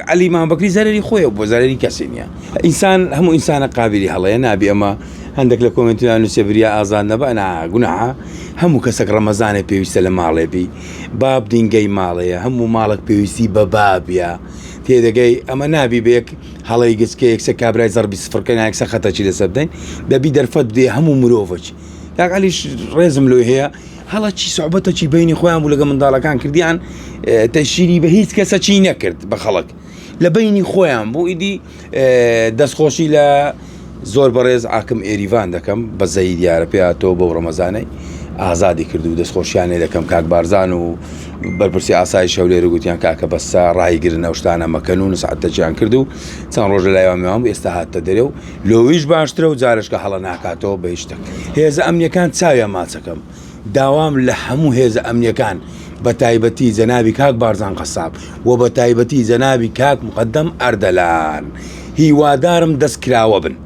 عەلی مامبەکری زەرەری خۆیە بۆ زەرەری کەسی نیە ئینسان هەموو ئینسانە قابلی هەڵەیە نابێ ئەمە هەندێک لە کۆمنتیان نووسێ بریا ئازاد نەبە نا گوناحە هەموو کەسێک ڕەمەزانێ پێویستە لە ماڵێ بی باب دینگەی ماڵەیە هەموو ماڵک پێویستی بە بابە تێدەگەی ئەمە نابی بەیەک هەڵەی گچکە یەکسە کابرای زەربی سفرکە نایکسە خەتەچی لەسەر بدەین دەبی دەرفەت بدێ هەموو مرۆڤچ یاگەلیش ڕێزم لۆی هەیە هەڵەچی سوعبەتەکی بینی خۆیان بوو لەگە منداڵەکان کردیان تەشیری بە هیچ کەسە چی نەکرد بە خەڵک لە بینی خۆیان بوو ئیدی دەستخۆشی لە زۆر بەڕێز ئاکم ئێریڤان دەکەم بە زەی دیارە پێ تۆ بەو ڕەمەزانەی ئازادی کرد و دەستخۆشیان لێ دەکەم کاک بارزان و بەرپرسی ئاسایی شەولێر و گوتیان کاکە بەسە ڕایگرن ئەو شتانە مەکەن و نسعاتەجیان کرد و چەند ڕۆژ لە لایوانمیوان ئێستا هاتە دەرێ و لۆیش باشترە و جارشکە هەڵە ناکاتەوە بە یشتەک هێزە ئەمنیەکان چاویان ماچەکەم داوام لە هەموو هێزە ئەمنیەکان بە تایبەتی جەنابی کاک بارزان قەساب و بە تایبەتی جەنابی کاک مقدەم ئەردەلان هیوادارم دەست کراوە بن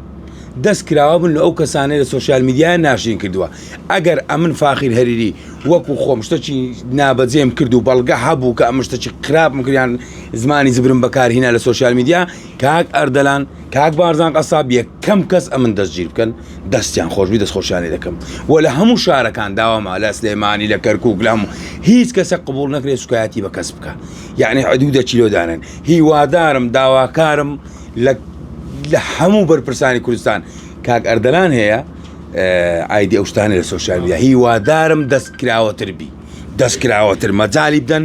دەست کراوە بن لە ئەو کەسانەی لە سوسیال میدیایان ناشرین کردووە ئەگەر ئەمن فاخیر هەریری وەکو خۆم شتەکی نابەجێم کرد و بەڵگە هەبوو کە ئەم شتەکی خراپم کردیان زمانی زبرم بەکارهینا لە سوسیال میدیا کاک ئەردەلان کاک بارزان قەساب یەکەم کەس ئەمن دەستگیر بکەن دەستیان خۆشبی دەست خۆشیانی دەکەم و لە هەموو شارەکان داواما لە سلێمانی لە کەرکک لەم هیچ کەسە قبول نەکرێت سوکایەتی بە کەس بکە یعنی عدوودە چیلۆدانن هیوادارم داواکارم لە لە هەموو بەرپرسانی کوردستان کاک ئەردەلان هەیە ئایدی ئەوشتانی لە سوۆسیال میدیا هیوادارم دەست کراوەتر بی دەست کراوەتر مەجای بدەن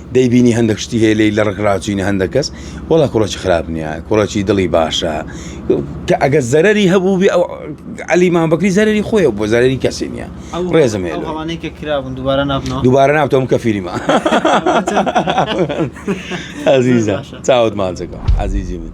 دەیبینی هەندەک شتی هەیە لێی لە ڕک ڕاچوینە هەندەک کەس وەڵا کوڕەکی خراپ نییە کوڕەکی دڵی باشە کە ئەگەر زەرری هەبوو بێ ئەو علی مامبکری زەرری خۆی بۆ زەرری کەسی نییە ڕێزم هەیە ئەوانەیکە کراون دوبارە نابنەوە دوبارە نابتەوەم کە فیلمە ئازیزە چاوت ماچەکە عزیزی من